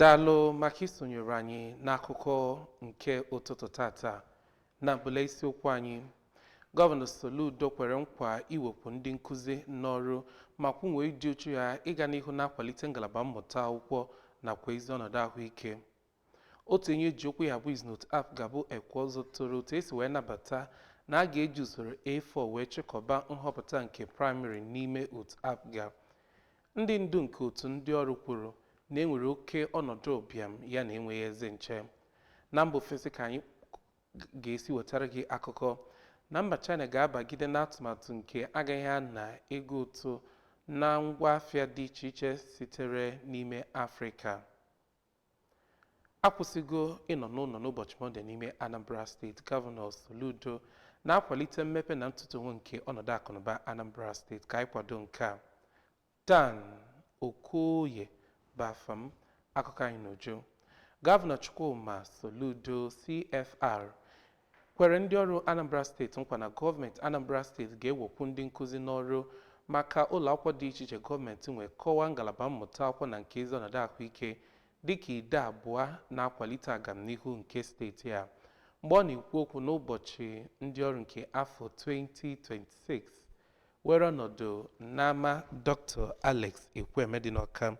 daalụ maka isonyere anyị n'akụkọ nke ụtụtụ tata na mbụla isiokwu anyị gọvanọ soludo kwere nkwa iwekwu ndị nkụzi n'ọrụ ma kwunwe ịdị uchu ya ịga n'ihu na-akwalite ngalaba mmụta akwụkwọ nakwa ezi ọnọdụ ahụike Otu onye eji okwu ya agba izu n'otu APGA bụ Ekweọzọ toro otu esi wee nabata na a ga-eji usoro A4 wee chịkọba nhọpụta nke praịmarị n'ime otu APGA. Ndị ndu nke otu ndị ọrụ kwuru na e nwere oke ọnọdụ ụbịam ya na enweghị ezi nche. Na mba ofesi ka anyị ga-esi wetara gị akụkọ na mba China ga-abagide n'atụmatụ nke agaghị ana ego ụtụ na ngwa afịa dị iche iche sitere n'ime Afrịka. akwụsịgo ịnọ n'ụlọ n'ụbọchị mọnde n'ime anambra steeti gọvanọ soludo na-akwalite mmepe na ntụtenwe nke ọnọdụ akụnụba anambra steeti ka anyị kwado nke a dan okoye bụ afa m akụkọ anyị n'uju gọvanọ chukwuma soludo cfr kwere ndị ọrụ Anambra steeti nkwa na gọọmenti Anambra steeti ga-ewekwu ndị nkụzi n'ọrụ maka ụlọakwụkwọ dị iche iche gọọmenti nwe kọwaa ngalaba mmụta akwụkwọ na nke ezi ọnọdụ ahụike dịka ide abụọ na-akwalite agamnihu nke steeti a. Mgbe ọ na-ekwu okwu n'ụbọchị ndị ọrụ nke afọ 2026 were ọnọdụ n'ama Dr. Alex Ekwueme dị n'Ọka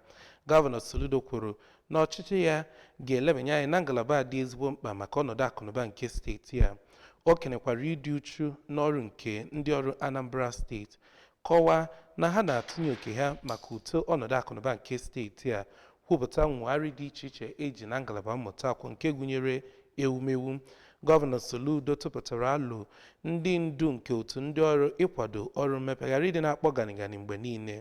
gọvanọ Soludo kwuru na ọchịchị ya ga-elebanye anya na ngalaba a dị ezigbo mkpa maka ọnọdụ akụnụba nke steeti a o kenekwara ịdị uchu n'ọrụ nke ndị ọrụ Anambra steeti kọwaa na ha na-atụnye oke ha maka uto ọnọdụ akụnụba nke steeti a Kwupụta nwegharị dị iche iche e ji na ngalaba mmụta akwụ nke gụnyere ewumewu. Gọvanọ Soludo tụpụtara alo ndị ndu nke otu ndị ọrụ ịkwado ọrụ mmepe ghara ịdị na-akpọ ganigani mgbe niile,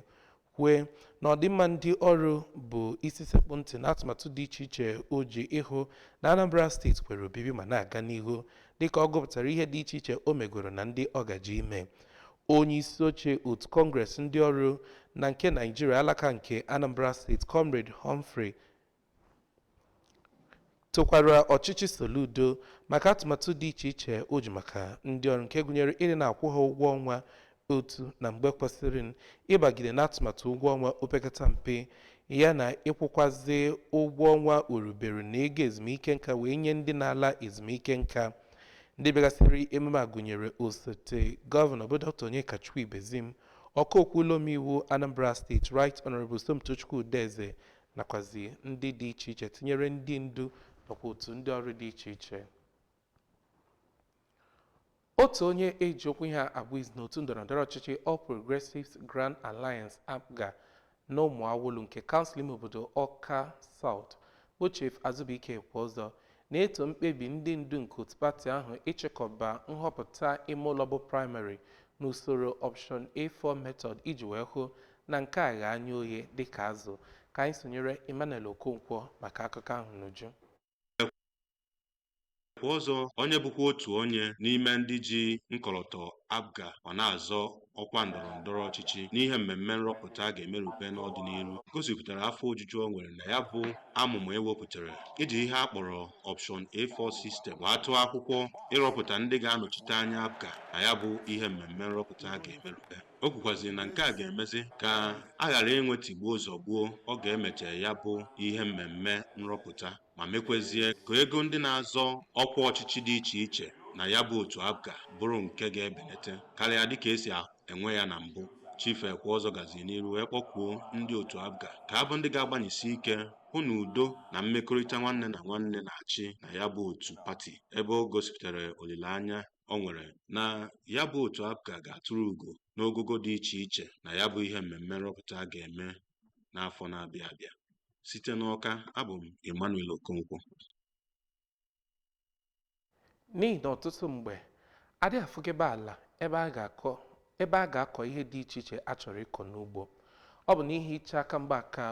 kwue na ọdịmma ndị ọrụ bụ isi sekpụ ntị n'atụmatụ dị iche iche o ji ịhụ na Anambra steeti kwere obibi ma na-aga n'ihu dịka ọ gụpụtara ihe dị iche iche o megoro na ndị ọ gaje ime. Onye isi oche otu Kọngres ndị ọrụ na nke Naijiria alaka nke Anambra steeti Comrade Humphrey tokwara ọchịchị Soludo maka atụmatụ dị iche iche o ji maka ndị ọrụ nke gụnyere ịdị na-akwụ ha ụgwọ ọnwa otu na mgbe kwesịrịnụ ịbagide n'atụmatụ ụgwọ ọnwa opekata mpe ya na ịkwụkwazị ụgwọ ọnwa orubere na ego ezumike nka wee nye ndị na-ala ezumike nka ndị bịagasịrị emume a gụnyere osote gọvanọ bụ dr onyekachukwu ibezim ọka okwu ụlọ omeiwu anambra steeti right honorable somtochukwu udeze nakwazi ndị dị iche iche tinyere ndị ndu nakwa otu ndị ọrụ dị iche iche otu onye eji okwu ya agba izu n'otu ndọrọndọrọ ọchịchị All Progressives Grand Alliance APGA N'Ụmụawụlụ nke Kansụl ime obodo Ọka South bụ Chief Azubuike Ekweọzọ na-eto mkpebi ndị ndu nke otu pati ahụ ịchịkọba nhọpụta ime ụlọ bụ praịmarị n'usoro Option A4 method iji wee hụ na nke a ghe anya oghe dịka azụ. Ka anyị sonyere Emmanuel Okonkwo maka akụkọ ahụ n'uju. Ekweọzọ, onye bụkwa otu onye n'ime ndị ji nkọlọtọ APGA ma na-azọ ọkwa ndọrọ ndọrọ ọchịchị n'ihe mmemme nrọpụta a ga-emerube n'ọdịnihu gosipụtara afọ ojuju o nwere na ya bụ amụma e wepụtara iji ihe a kpọrọ Option A4 System wee tụọ akwụkwọ ịrọpụta ndị ga-anọchite anya APGA na ya bụ ihe mmemme nrọpụta a ga-emerube o kwukwaziri na nke a ga-emezi ka a ghara inwe tigbuo zọgbuo ọ ga-emecha ya bụ ihe mmemme nrọpụta ma mekwezie ka ego ndị na-azọ ọkwa ọchịchị dị iche iche na ya bụ otu APGA bụrụ nke ga-ebelete karịa dịka e si enwe ya na mbụ Chief Ekweọzọ gaziri n'iru wee kpọkuo ndị otu APGA ka abụ ndị ga-agbanyesi ike hụ na udo na mmekọrịta nwanne na nwanne na-achị na ya bụ otu pati ebe o gosipụtara olileanya o nwere na ya bụ otu APGA ga-atụrụ ugo n'ogogo dị iche iche na ya bụ ihe mmemme nrọpụta a ga-eme n'afọ na-abịa abịa site n'Ọka abụ m Emmanuel Okonkwo n'ihi na ọtụtụ mgbe a dịghị afụgebe ala ebe a ga-akọ ihe dị iche iche a chọrọ ịkọ n'ugbo ọ bụ n'ihi iche aka mgba ka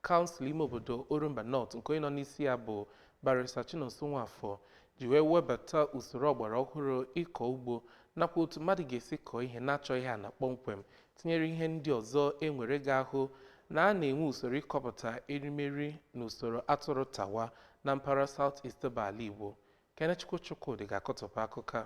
kansụl ime obodo Orumba North nke onye nọ n'isi ya bụ Barrister Chinonso Nwafor ji wee webata usoro ọgbara ọhụrụ ịkọ ugbo nakwa otu mmadụ ga-esi kọọ ihe na-achọghị ana kpọmkwem tinyere ihe ndị ọzọ e nwere ga-ahụ na a na-enwe usoro ịkọpụta erimeri n'usoro atụrụ tawa na mpaghara South East bụ ala Igbo. Kenechukwu Chukwudị ga-akọtọpụ akụkọ a.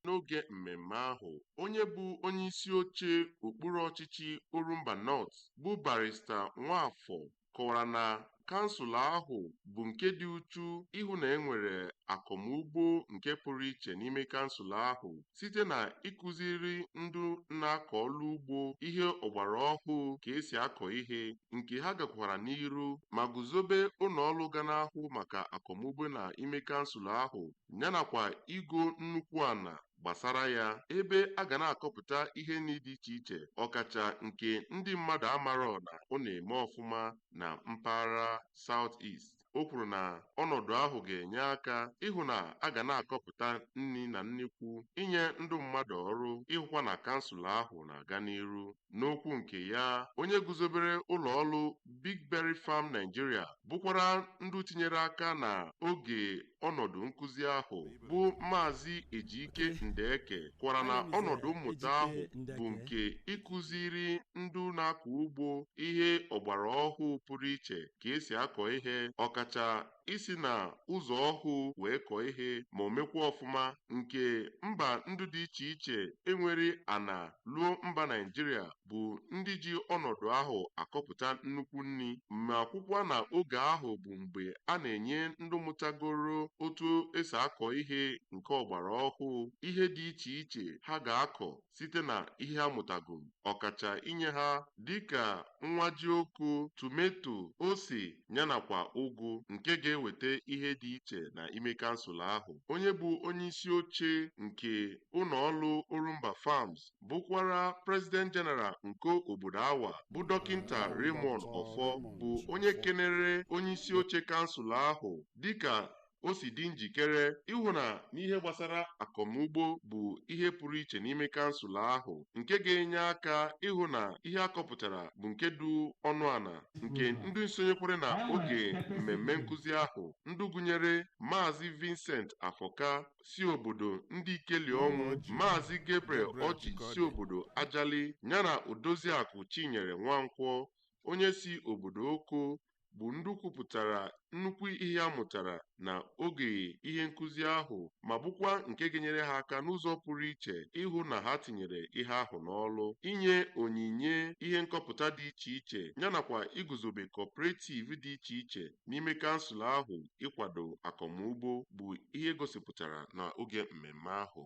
N'oge mmemme ahụ, onye bụ onyeisi oche okpuru ọchịchị Orumba North bụ Barrister Nwafor kọwara na kansụl ahụ bụ nke dị uchu ịhụ na e nwere akọmugbo nke pụrụ iche n'ime kansụl ahụ site na ịkụziri ndị na-akọ ọlụ ugbo ihe ọgbara ọhụụ ka e si akọ ihe nke ha gakwara n'iru ma guzobe ụnọ ọlụ ga na-ahụ maka akọmugbo na ime kansụl ahụ yanakwa igo nnukwu ana gbasara ya ebe a ga na-akọpụta ihe nri dị iche iche ọkacha nke ndị mmadụ amarọ na ọ na-eme ọfụma na mpaghara South East. O kwuru na ọnọdụ ahụ ga-enye aka ịhụ na a ga na-akọpụta nri na nnekwu, inye ndụ mmadụ ọrụ, ịhụkwa na kansụl ahụ na-aga n'iru. N'okwu nke ya, onye guzobere ụlọọlụ Big Berry Farm Nigeria bụkwara ndụ tinyere aka na oge ọnọdụ nkụzi ahụ bụ Maazị Ejike Ndeke kwara na ọnọdụ mmụta ahụ bụ nke ịkụziri ndụ na-akọ ugbo ihe ọgbara ọhụụ pụrụ iche ka esi akọ ihe ọkacha isi na ụzọ ọhụụ wee kọọ ihe ma o mekwa ọfụma nke mba ndụ dị iche iche enwere ana luo mba Naijiria bụ ndị ji ọnọdụ ahụ akọpụta nnukwu nni ma kwukwa na oge ahụ bụ mgbe a na-enye ndị mụtagoro otu esi akọ ihe nke ọgbara ọhụụ ihe dị iche iche ha ga-akọ site na ihe ha mụtagoro, ọkacha inye ha dịka nwa jioko, tometo, ose yanakwa ụgụ nke ga-eweta ihe dị iche na ime kansụl ahụ. Onye bụ onyeisi oche nke ụlọọlụ Orumba Farms bụkwara President General nke obodo Awa bụ Dọkịnta Raymond Offor bụ onye kenere onyeisi oche kansụl ahụ dịka o si dị njikere ịhụ na n'ihe gbasara akọmugbo bụ ihe pụrụ iche n'ime kansụl ahụ nke ga-enye aka ịhụ na ihe akọpụtara bụ nke dụ ọnụ ana nke ndị sonyekwara na oge mmemme nkụzi ahụ ndị gụnyere Maazị Vincent Afọka si obodo Ndịkeliọnwụ Maazị Gabriel Ọchị si obodo Ajali yana Odoziakụ Chinyere Nwankwọ onye si obodo Oko bụ ndị kwupụtara nnukwu ihe ha mụtara na oge ihe nkụzi ahụ ma bụkwa nke ga-enyere ha aka n'ụzọ pụrụ iche ịhụ na ha tinyere ihe ahụ n'ọlụ inye onyinye ihe nkọpụta dị iche iche yanakwa iguzobe cooperative dị iche iche n'ime kansụl ahụ ịkwado akọmugbo bụ ihe gosipụtara na oge mmemme ahụ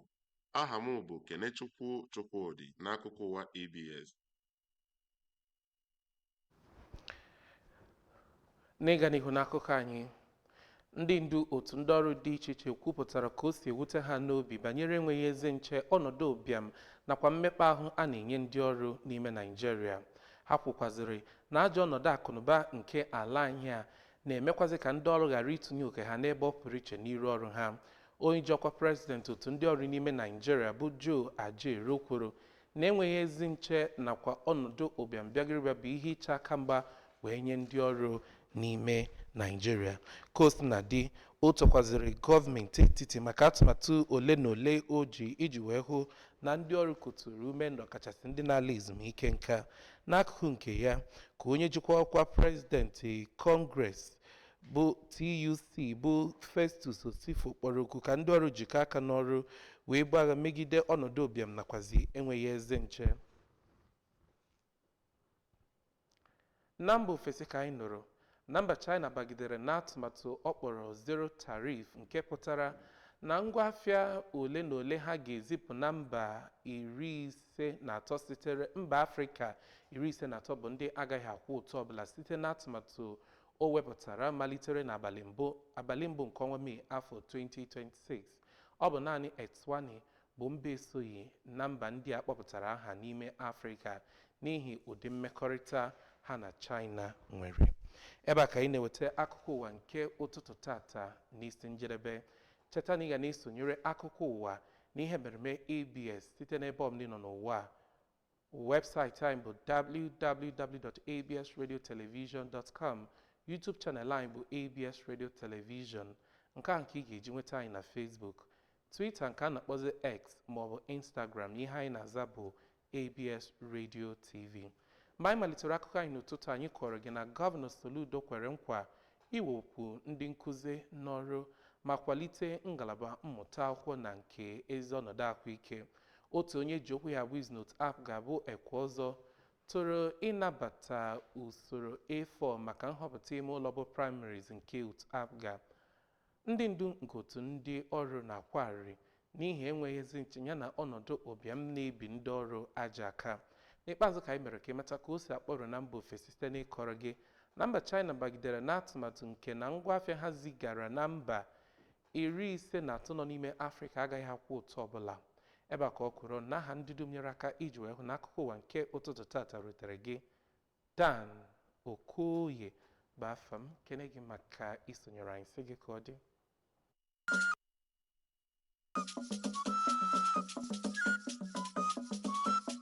aha m bụ Kenechukwu Chukwudị n'akụkọ ụwa ABS n'ịga n'ihu n'akụkọ anyị ndị ndu otu ndị ọrụ dị iche iche kwupụtara ka o si ewute ha n'obi banyere enweghị ezi nche ọnọdụ ụbịam nakwa mmekpa ahụ a na-enye ndị ọrụ n'ime Naịjirịa ha kwukwazịrị na ajọ ọnọdụ akụnụba nke ala anyị a na-emekwazị ka ndị ọrụ ghara itinye oke ha n'ebe ọ pụrụ iche n'iru ọrụ ha onye ji ọkwa prezidenti otu ndị ọrụ n'ime Naịjirịa bụ Joe Ajaero kwuru na enweghị ezi nche nakwa ọnọdụ ụbịam bịagịrịbịa bụ ihe ịcha aka mgba wee nye ndị ọrụ n'ime Naịjirịa. Ka o sina dị, o tokwazịrị gọọmenti etiti maka atụmatụ ole na ole o ji iji wee hụ na ndị ọrụ kuturu ume n'ọkachasị ndị na-ala ezumike nka. N'akụkụ nke ya, ka onye jikwa ọkwa prezidenti Kọngres bụ TUC bụ Festus Osifo kpọrọ oku ka ndị ọrụ jikọ aka n'ọrụ wee buo agha megide ọnọdụ ụbịam nakwazi enweghị ezi nche na mba ofesi ka anyị nụrụ na mba China bagidere n'atụmatụ ọ kpọrọ zero tariff nke pụtara na ngwa afịa ole na ole ha ga-ezipụ na mba iri ise na atọ sitere mba Afrịka iri ise na atọ bụ ndị agaghị akwụ ụtụ ọbụla site n'atụmatụ O wepụtara malitere n'abalị mbụ abalị mbụ nke ọnwa Mee afọ 2026. Ọ bụ naanị Eswatini bụ mba esoghị na mba ndị a kpọpụtara aha n'ime Afrịka n'ihi ụdị mmekọrịta ha na China nwere. Ebe a ka anyị na-eweta akụkọ ụwa nke ụtụtụ tata n'isi njedebe. Cheta na ị ga na-esonyere akụkọ ụwa na ihe mmereme ABS site n'ebe ọbụla ị nọ n'ụwa a Webụsaịtị anyị bụ www.absradiotelevision.com YouTube channel anyị bụ ABS Radio Television nke a nke ị ga-eji nweta anyị na Facebook Twitter nke a na-akpọzi X maọbụ Instagram ihe anyị na-aza bụ ABS Radio TV mgbe anyị malitere akụkọ anyị n'ụtụtụ anyị kọọrọ gị na gọvanọ Soludo kwere nkwa iwekwu ndị nkụzi n'ọrụ ma kwalite ngalaba mmụta akwụkwọ na nke ezi ọnọdụ ahụike. Otu onye e ji okwu ya agba izu n'otu APGA bụ Ekweozor toro ịnabata usoro A4 maka nhọpụta ime ụlọ bụ primaries nke otu APGA. Ndị ndu nke otu ndị ọrụ na-akwa arịrị n'ihi enweghị ezi nche yana ọnọdụ ụbịam na-ebi ndị ọrụ ajọ aka. N'ikpeazụ ka anyị mere ka ị mata ka o si akpọtụ na mba ofesi site n'ịkọrọ gị na mba China bagidere n'atụmatụ nke na ngwa afịa ha zigara na mba iri ise na atọ nọ n'ime Afrịka agaghị akwụ ụtụ ọbụla. Ebe a ka ọ kwụrụ n'aha ndị dum nyere aka iji wee hụ na akụkọ ụwa nke ụtụtụ tata rutere gị Dan Okoye bụ afa m kene gị maka isonyere anyị sị gị ka ọ dị